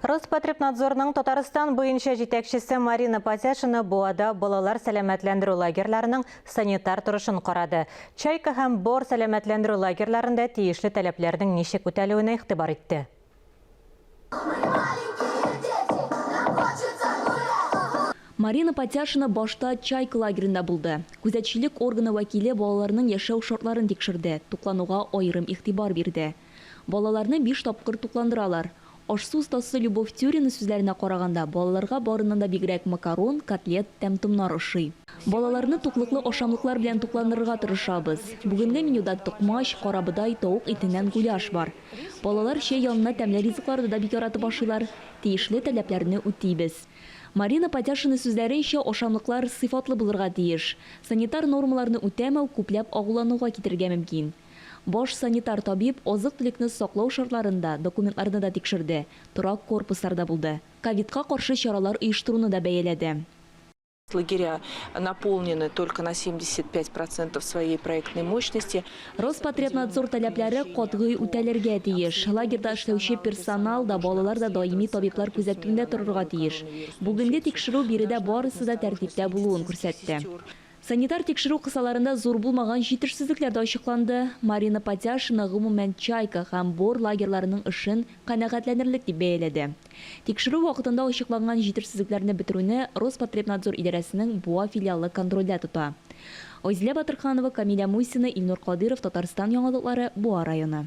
Роспотребнадзорның Татарстан буенча җитәкчесе Марина Патяшина Буада балалар сәламәтләндерү лагерьларының санитар торышын карады. Чайка һәм Бор сәламәтләндерү лагерьларында тиешле таләпләрнең ничек үтәлүенә игътибар итте. Марина Патяшина башта Чайка лагеренда булды. Күзәтчелек органы вәкиле балаларның яшәү шартларын тикшерде, туклануга аерым игътибар бирде. Балаларны биш тапкыр тукландыралар. Аш-су остасы Любовь Тюрина сүзләренә караганда, балаларга барыннан да бигрәк макарон, котлет, тәм-томнар ошый. Балаларны туклыклы ашамлыклар белән тукландырырга тырышабыз. Бүгенге менюда токмач, карабодай, тавык итеннән гуляш бар. Балалар чәй янына тәмле ризыкларны да бик яратып ашыйлар. Тиешле таләпләрне үтибез. Марина Патяшина сүзләренчә, ашамлыклар сыйфатлы булырга тиеш. Санитар нормаларны үтәмәү күпләп агулануга китерергә мөмкин. Баш санитар табиб азык-төлекне саклау шартларын да, документларны да тикшерде, торак корпусларда булды. Ковидка каршы чаралар оештыруны да бәяләде. Лагеря наполнены только на 75 процентов своей проектной мощности. Роспотребнадзор таләпләре катгый үтәлергә тиеш. Лагерьда эшләүче персонал да, балалар да даими табиблар күзәтүендә торырга тиеш. Бүгенге тикшерү биредә барысы да тәртиптә булуын күрсәтте. Санитар тикшерү кысаларында зур булмаган җитешсезлекләр дә ачыкланды. Марина Патяшина, гомумән, Чайка һәм Бор лагерьларының эшен канәгатьләнерлек дип бәяләде. Тикшерү вакытында ачыкланган җитешсезлекләрне бетерүне Роспотребнадзор идарәсенең Буа филиалы контрольдә тота. Айзилә Батырханова, Камилә Мусина, Илнур Кадыйров, Татарстан яңалыклары, Буа районы.